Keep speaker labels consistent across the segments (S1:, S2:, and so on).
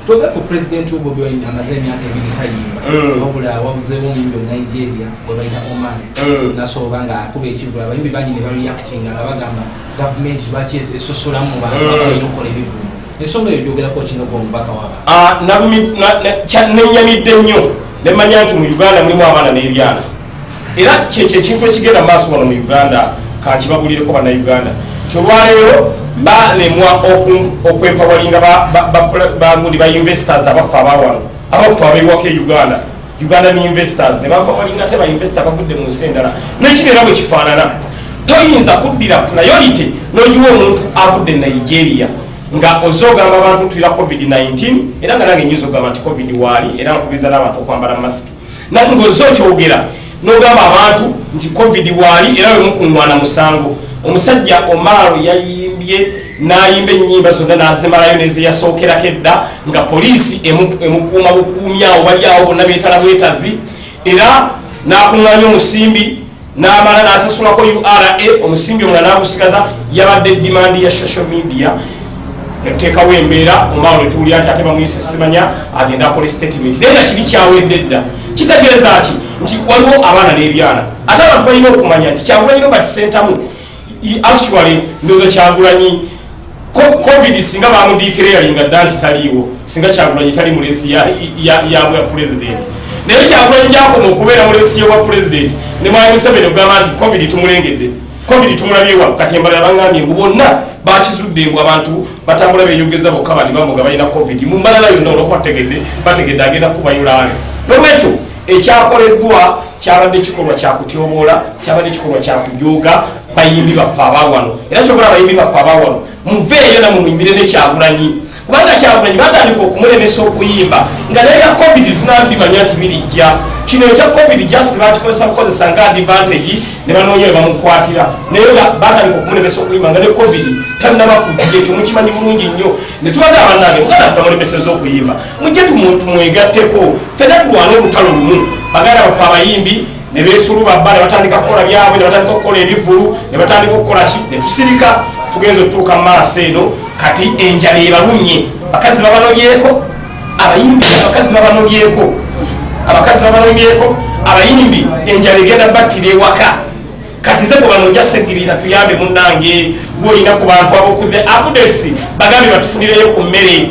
S1: tobe ku president wo bobi wine amaze emyaka ebiri tayimba eh. wabula wabuzeewo omuyimbi onigeria gwe bayita oman eh. nasooba nga akuba ekivulu abayimbi bangi ne bareactinga nga bagamba gavumenti lwaki esosolamu mu bantu eh. balina okukola ebivumu ensonga eyo gyogerako kino gwe omubaka waba ah, nenyamidde nnyo nemanya nti mu uganda mulimu abaana n'ebyana Era kyekyo ekintu ekigenda mu maaso wano mu Uganda. Kankibabulireko Bannayuganda nti olwaleero balemwa okwempawalinga bagundi ba investors abaffe abawano abaffe abewako e Uganda Ugandan investors ne bampawalinga ate ba investor bavudde mu nsi endala nekibeera bwe kifaanana toyinza kuddira priority n'ogiwa omuntu avudde e Nigeria nga ozze ogamba abantu tulira covid-19 era nga nange nyinza ogamba nti covid waali era nkubiriza n'abantu okwambala masiki nati ngoze okyogera nogamba abantu nti covid waali era wemukungwana musango omusajja omaalo yayimbye nayimba enyimba zonna nazimalayo nezeyasookerako edda nga poliisi emukuuma bukuumyawo bali awo bonna betala bwetazi era nakunganya omusimbi n'amala n'asasulako ura omusimbi omula n'agusigaza yabadde dimandi ya social media netuteekawo embeera omaawo netuwulira nti ate bamuyise simanya agenda akola statement naye nga kibi kyawedde dda kitegeeza ki nti waliwo abaana n'ebyana ate abantu balina okumanya nti kyagulanyi robert sentamu actually ndoza kyagulanyi covid singa bamudikira yalinga dda nti taliiwo singa kyagulanyi tali mulesi yabwa president naye kyagulanyi gyakoma okubeera mulesi yobwa president ne mwali museveni okugamba nti covid tumulengedde covid tumulabyewa kati embala yabangambye mbu bonna bakizudde mbu abantu batambula beyogeza bokka bandi bamuga balina covid mu mbalala yonna olwokuba tegedde bategedde agenda kubayulaale nolwekyo ekyakoleddwa kyabadde kikolwa kyakutyoboola kyabadde kikolwa kyakujooga bayimbi baffe abawano era kyobola abayimbi baffe abawano muveeyo namwe muyimbire nekyagulanyi kubanga kyagulanyi batandika okumulemesa okuyimba nga naye ya covid tunabimanya nti birijja kino ekya covid just bakikozesa kukozesa nga advantage ne banoonya webamukwatira naye batandika okumulemesa okuyimba nga ne covid tanaba kujja ekyo mukimanyi bulungi nnyo ne tubadde abanange mugana tunamulemeseza okuyimba mujje tumwegatteko fena tulwane olutalo lumu baganda baffe abayimbi ne beesuluba bba ne batandika kukola byabwe ne batandika okukola ebivulu ne batandika okukola ki ne tusirika tugenza okutuuka mu maaso eno kati enjala ebalumye bakazi babanobyeko abayimbi abakazi babanobyeko abakazi babanobyeko abayimbi enjala egenda battira ewaka kati nze kubano njaseggirira tuyambe munnange gwoyina ku bantu abokudde abudesi bagambe batufunireyo ku mmere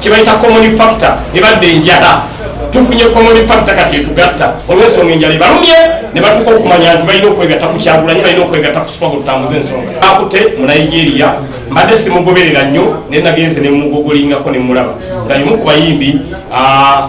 S1: kyebayita common factor ne badda enjala tufunye common factor kati etugatta olwensonga enjala ebalumye ne batuuka okumanya nti balina okwegatta ku kyagulanyi balina okwegatta ku supaho tutambuza ensonga akute mu nigeria mbadde simugoberera nnyo naye nagenze ne mugogolingako ne mulaba nga yomu ku bayimbi ah,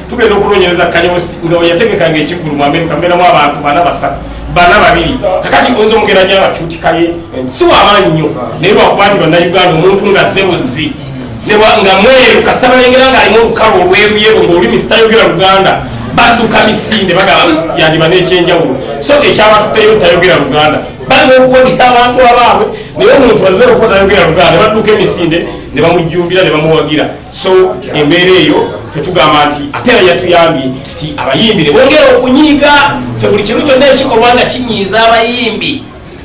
S1: tugenda okunonyereza kanyosi nga weyategekanga ekivulu mu amerika mbeeramu abantu bana basatu bana babiri kakati oyinza omugeranya abacuutikaye si wamaanyi nnyo naye lwakuba nti bannayuganda omuntu nga ze buzzi nga mweru kasita balengera ngaalimu olukalu olweruyero ngaolimi sitayogera luganda badduka misinde bagaba yandiba nekyenjawulo so ekyabatutteyo tayogera luganda balina okuwagika abantu abaabwe naye omuntu azira okuba tayogera luganda badduka emisinde ne bamujjumbira ne bamuwagira so embeera eyo fetugamba nti ate era yatuyambye nti abayimbi ne bongera okunyiiga fe buli kimu kyonna ekikolwa nga kinyiiza abayimbi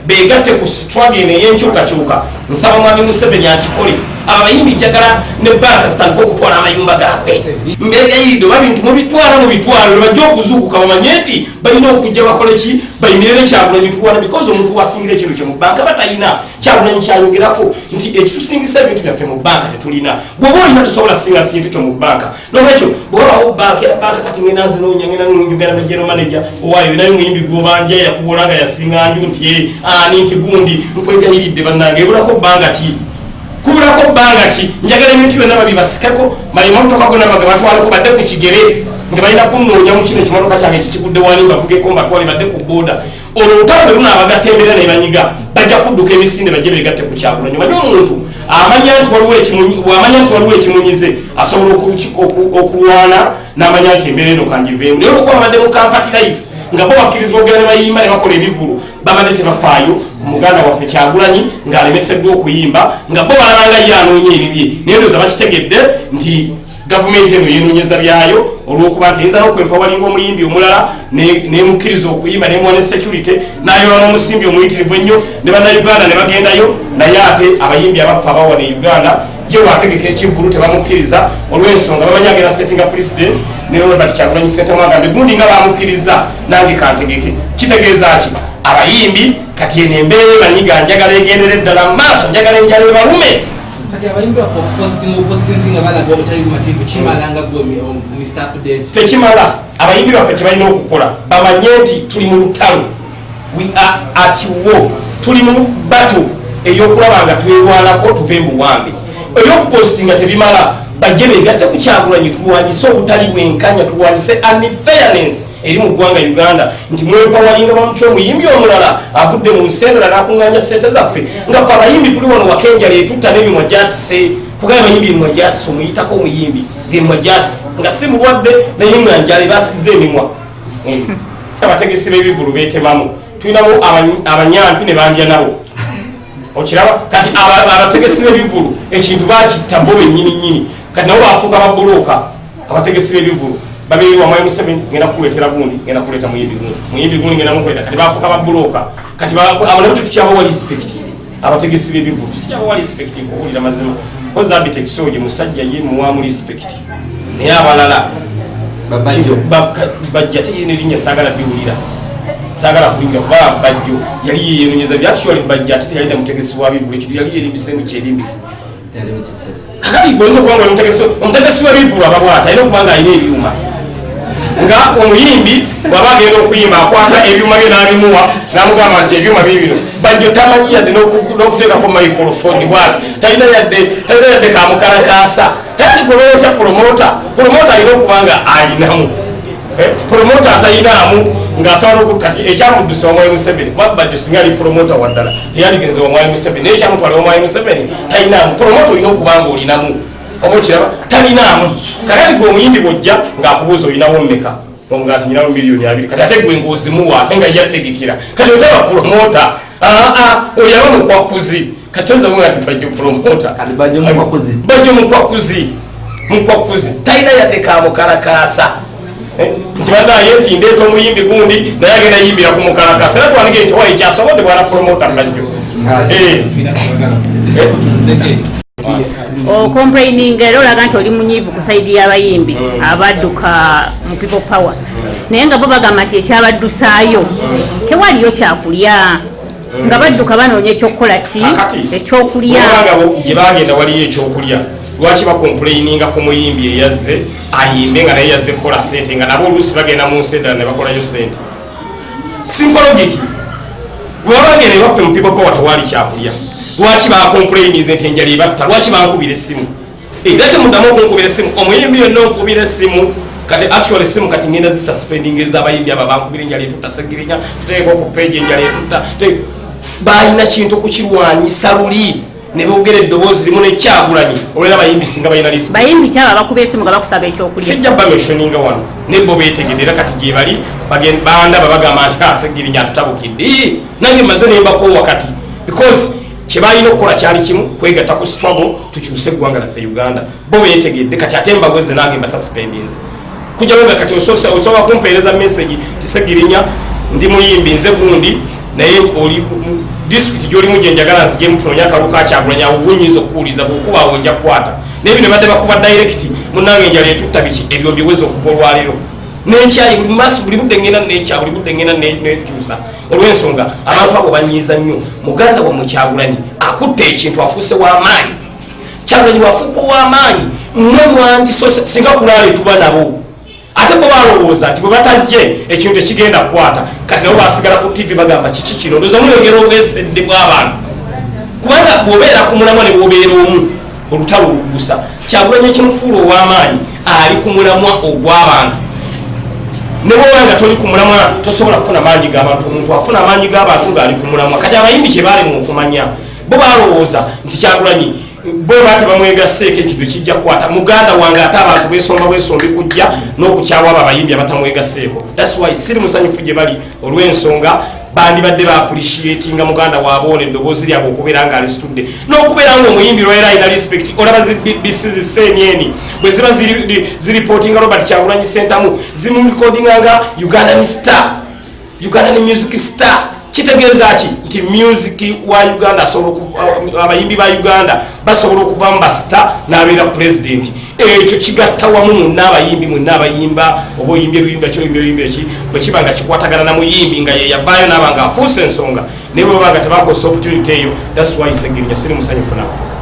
S1: begatte ku sitwagi eno eyenkyukakyuka nsaba mwami museveni akikole abo abayimbi njagala ne banka zitandika okutwala amayumba gaabwe mbegayidde oba bintu mubitwala mu bitwalo nebajja okuzuukuka bamanye nti balina okujja bakole ki bayimirire kyagulanyi tuwana bikozi omuntu wasingira ekintu kye mu banka batalina kyagulanyi kyayogerako nti ekitusingisa ebintu byaffe mu banka tetulina bwoba olina tusobola singa sintu kyo mu banka nolwekyo bwewabawo banka era banka kati ngenda nzinoonya ngenda nunjugera ne general manager owayo naye muyimbi gwobanja yakubola nga yasinga nju nti e ani
S2: nti gundi nkwegayiridde bannange ebulako banga ki kubulako banga ki njagala ebintu byonna babibasikeko malima mutoka gona baga batwaleko badde ku kigere nga balina kunnoonya mu kino ekimotoka kyange kikigudde wani mbavugeko mbatwale badde ku booda olwo olutalo bwe lunaabagatta embeera ne banyiga bajja kudduka emisinde bajje beegatte ku kyakulonyo manye omuntu amanya nti waliwoamanya nti waliwo ekimunyize asobola okulwana n'amanya nti embeera eno kanjiveemu naye olwokuba babadde mu kanfati life nga bo bakkirizibwa okugenda ne bayimba ne bakola ebivulu babadde tebafaayo ku muganda waffe kyagulanyi ng'alemeseddwa okuyimba nga bo balabanga ye anoonya ebibye naye ndoza bakitegedde nti Gavumenti eno yenoonyeza byayo olw'okuba nti eyinza n'okwempawalinga omuyimbi omulala n'emukkiriza okuyimba nemuwa ne security n'ayola n'omusimbi omuyitirivu ennyo ne bannayuganda ne bagendayo naye ate abayimbi abaffe abawa ne uganda ye wategeka ekivulu tebamukkiriza olw'ensonga bamanyi agenda settinga president ne robert kyagulanyi sentamu agambe gundi nga bamukkiriza nange kantegeke kitegeeza ki abayimbi kati eno embeera emanyiga njagala egendere ddala mu maaso njagala enjala ebalume kati abayimbi
S1: baffe okupostinga opostinzi nga balaga obutali bumativu kimala nga gwe mr update tekimala abayimbi
S2: baffe kyebalina okukola bamanye nti tuli mu lutalo we are at war tuli mu bato eyokulaba nga twewalako tuve muwambe eyokupostinga tebimala bajje begatte kukyagulanyi tulwanyise obutali bwenkanya tulwanyise unfairness eri mu ggwanga uganda nti mwepawalinga bamutya omuyimbi omulala avudde mu nsi endala nakunganya sente zaffe nga fe abayimbi tuli wano wakenjala etutta nemimwa gyatise kugaba abayimbi emimwa gyatise omuyitako omuyimbi ngemimwa gyatise nga si mulwadde naye nga njala ebasiza emimwa eh, abategesi bebivulu betemamu tulinamu abanyampi ne bandya nabo okiraba kati abategesi bebivulu ekintu bakitta bo benyini nyini kati nabo bafuuka babuloka abategesi b'ebivulu babeere wamwayi museveni ngenda kukuleetera gundi ngenda kuleeta muyimbi gundi muyimbi gundi ngenda mukuleeta kati bafuka babulooka kati abo nabo tetukyabawa respect abategesi b'ebivulu sikyabawa respect nkuwulira mazima kozi abitex oyo musajja ye muwamu respect naye abalala bajja teyina erinnya saagala biwulira saagala kuwulira kuba bajjo yali yeyenonyeza byactually bajja ate teyalina mutegesi wa bivulu ekintu yali yerimbisemu kyerimbike kakati oyinza okuba nga omutegesi omutegesi w'ebivulu aba bwata alina okuba nga alina ebyuma nga omuyimbi bwaba agenda okuyimba akwata ebyuma bye n'abimuwa n'amugamba nti ebyuma bye bino bajjo tamanyi yadde n'okuteekako microfoni bwati talina yadde talina yadde kamukalakaasa tayandi gwe lwotya promota promota alina okuba nga alinamu Eh, promota atayinaamu ng'asobola oku kati ekyamuddusa omwayi museveni kuba bajjo singa ali promota waddala teyaligenze omwayi museveni naye ekyamutwala omwayi museveni tayinaamu promota olina okuba nga olinamu oba okiraba talinaamu kati ati gwe omuyimbi bwojja ng'akubuuza olinawo mmeka omugati nyinawo miliyoni abiri kati ate gwe ng'ozimuwa ate nga yategekera kati otaba promota Ah, ah, oyo aba mukwakuzi kati oyinza kuga nti bajja opromota bajja omukwakuzi mukwakuzi talina yadde kamukalakaasa eh, nti banaye nti ndeeta omuyimbi gundi naye agenda yimbira ku mukalakaasa era twanige nti owaye kyasobodde bwana promota bajjo eh.
S3: okomplaininga oh, era olaga nti oli munyiivu ku saidi y'abayimbi mm. abaduka mu people power naye nga bo bagamba nti ekyabaddusaayo tewaliyo kyakulya nga mm. badduka banoonya ekyokukola ki ekyokulyagye bagenda
S2: waliyo ekyokulya lwaki bakompuleyininga ku muyimbi eyazze ayimbe nga naye yazze kukola sente nga nabo oluusi bagenda mu nsi eddala ne bakolayo sente simpologiki bwebabagenda ewaffe mu people power tewali kyakulya lwaki bakompuleyininze nti enjala ebatta lwaki bankubira essimu Era temudamu okunkubira essimu omuyimbi yonna onkubira essimu kati actually simu kati ngenda zisuspending ezabayimbi aba bankubira enjala etutta segirinya tuteeka oku page enjala etutta balina kintu okukirwanyisa luli ne boogera eddoboozi limu nekyagulanyi olwera bayimbi singa balina lisi bayimbi kyaba bakuba esimu
S3: nga bakusaba ekyokulya sijja bameshoninga
S2: wano naye bo beetegedde era kati gyebali bandaba bagamba nti asegirinya ah, atutabukidde nange maze nembakowa kati because kyebalina okukola kyali kimu kwegatta ku struggle tukyuse eggwanga laffe uganda bo betegedde kati ate mbaweze nange mbasasipendinze kujawo nga kati osobola kumpeereza message tisegirinya ndi muyimbi nze gundi naye oli disitulikiti gyolimu gyenjagala nzijemu tunonya akalu kakyagulanya ogunyinza okukuwuliza bwokuba awo nja kukwata naye bino badde bakuba direct munange enjala etutta biki ebyo mbiweza okuva olwaleero nekyayi buli maaso buli budde ngenda nekya buli budde ngenda nekyusa olw'ensonga abantu abo banyiiza nnyo muganda wamwe kyagulanyi akutte ekintu afuuse w'amaanyi kyagulanyi wafuuka ow'amaanyi mwe mwandiso singa kulaale tuba nabo ate bo balowooza nti bwe batajje ekintu tekigenda kukwata kati nabo basigala ku tivi bagamba kiki kino ndoza mulengera obwesedde bw'abantu kubanga bw'obeera ku mulamwa ne bw'obeera omu olutalo oluggusa kyakulanya ekimufuula ow'amaanyi ali ku mulamwa ogw'abantu ne bwoba nga toli ku mulamwa tosobola kufuna maanyi g'abantu omuntu afuna amaanyi g'abantu ng'ali ku mulamwa kati abayimbi kye baalimu okumanya bo balowooza nti kyakulanyi bo baate bamwegasseeko ekintu kijja kukwata muganda wange ate abantu besomba bwesombi kujja n'okukyawa abo abayimbi abatamwegasseeko that's why siri musanyufu gye bali olw'ensonga bandibadde ba appreciatinga muganda waabwe ono eddoboozi lyabwe okubeera nga alisitudde n'okubeera nga omuyimbi lwaera alina respect olaba zi bbc ziseenyeni bwe ziba ziripootinga robert kyagulanyi sentamu zimurekodinga nga ugandan star ugandan music star kitegeeza ki nti music wa uganda asobola uh, abayimbi ba uganda basobola okuvamu basita n'abeera pulezidenti ekyo kigatta wamu munna abayimbi mwenna abayimba oba oyimbye luyimba ki oyimby oyimba eki bwe kiba nga kikwatagana na muyimbi nga yeyavaayo naaba nga afuuse ensonga naye bwebaba nga tebakozesa opportunity eyo thats why segirinya siri musanyufu nawe